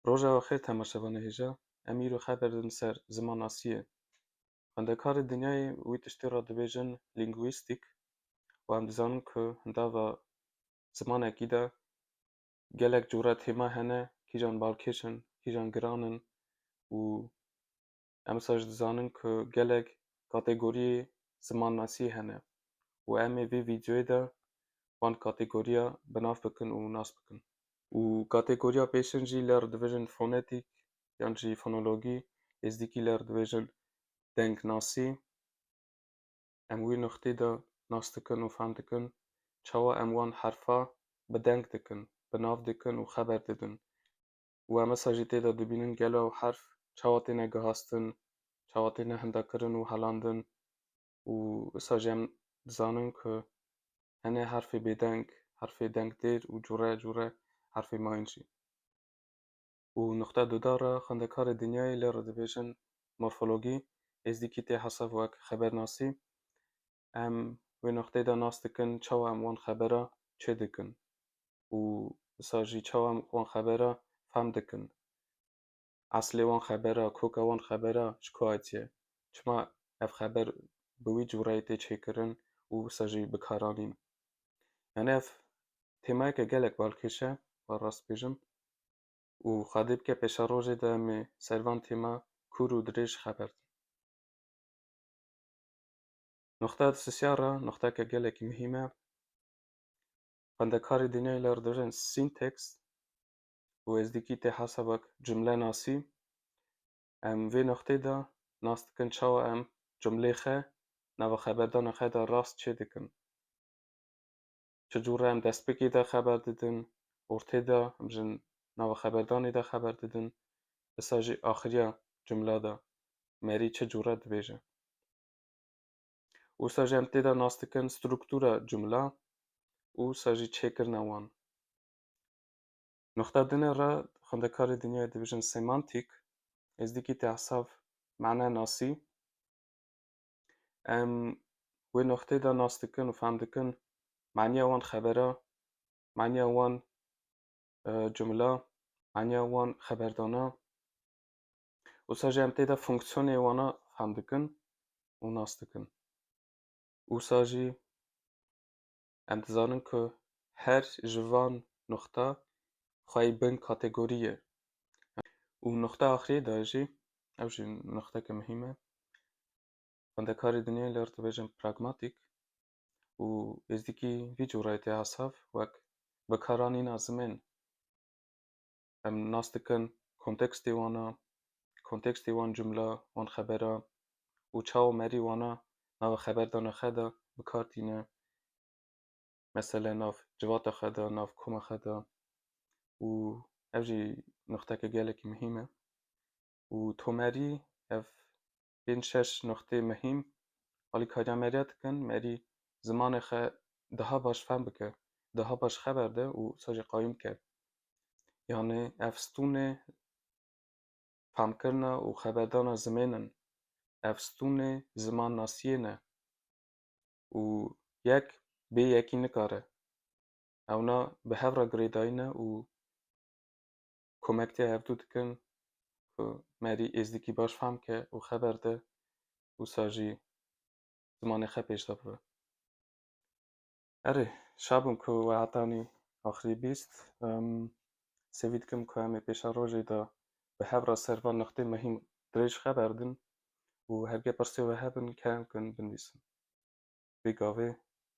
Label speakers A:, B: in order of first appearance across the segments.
A: Roja we xêr temaşevanê hêja, em îro xev berdin ser zimanasiyê. Xwendekarê dinyayê wî tiştê re dibêjin lîngwîstîk û em dizanin ku da va zimanekî de gelek cûre têma hene, kîjan balkêş in, kîjan giran in û Em wisa jî dizanin ku gelek kategoriyê zimannasî hene û em ê vê vîdeoyê de van kategoriya bi nav bikin û nas bikin. Û kategoriya pêşin jî ler dibêjin fonetîk yan jî fonologî, êzdîkî ler dibêjin dengnasî. Em wî nuqtê de nas dikin û fehm dikin çawa em wan herfa bi deng dikin, bi nav dikin û xeber didin. û em esa jî tê de dibînin gelo ew herf çawa têne gihastin, çawa têne hindekirin û helandin û esa jî em dizanin ku hene herfê bêdeng, herfê dengdêr û cure cure herfê mayîn jî. Û nuqta duda re xwendekarê dinyayê lê re dibêjin morfologî, êzdîkî tê hesav wek xebernasî, em wê noxteyê de nas dikin çawa em wan xebera çê dikin û wisa jî çawa em wan xebera fehm dikin. Eslê wan xebera, koka wan xebera ji ku hatiye? Çima ev xeber bi wî cûreyê tê çêkirin û wisa jî bi kar anîn? Yanî ev têmayeke gelek balkêş e, wa rast bêjim û xwedê bike pêşa rojê de em ê ser van têma kûr û dirêj xeber din. Noxteya di sisya re noxteyeke gelekî muhîm e. Xwendekarê dîneyê ler dirin syntax û êzdîkî tê hesabek cumlenasî. Em vê noxteyê de nas dikin çawa em cumleyê xwe nava xeberdana xwe de rast çêdikin. çi cû re em destpêkê de xeber didin, ortê de, em ji nava xeberdanê de xeber didin, disa jî axiriya cumla de Merî çi cû re dibêje. Wisa jî em tê de nas dikin struktûra cumla û wisa jî çêkirina wan. Nuqta dinê re xwendekarê dinyayê dibêjin semantîk, êzdîkî tê hesav, manenasî, Em wê noxtê de nas dikin û fehm dikin maniya wan xebera, maniya wan cumla, maniya wan xeberdana. Wisa jî em tê de fonksiyonê wana fehm dikin û nas dikin. Wisa jî Em dizanin ku her ji van nuqta xweyî bin kategorî ye û nuqta axirî de jî ew jî nuqteke muhîm e. Xwendekarê dinyayê li rtibêjên pragmatîk û êzdîkî vî cûrayî tê hasav wek bikaranîna zimên. Em nas dikin kontekstê wan a, kontekstê wan cumla, wan xeber a û çawa merî wan a nava xeberdana xwe de bi kar tîne. Mesele nav civata xwe de, nav koma xwe de û ev jî nuqteke gelekî muhîm e û tomerî ev pênc şeş nuqtê mehîm alîkariya me rê dikin, me rê zimanê xwe daha baş fehm bike, daha baş xeber de û wisa jî qayîm bike. Yanê ev stûnê fehmkirina û xeberdana zimên in, ev stûnê zimannasiyê ne û yek bê yekî nikare. Ewna bi hev re girêdayîne û komek tê hevdû dikin ku merî êzdikî baş fehm bike û xeber de wisa jî zimanê xwe pêş de bibe. Erê, şabim ku we hetanî axirî bîst. Sêvî dikim ku em ê pêşa rojê de bi hev re ser van nuqteyên mehîm dirêj xeber din û hergeh pirsê we hebin kerem bikin binivîsin. Bê gavê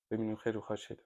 A: bimînin xêr û xaçê de.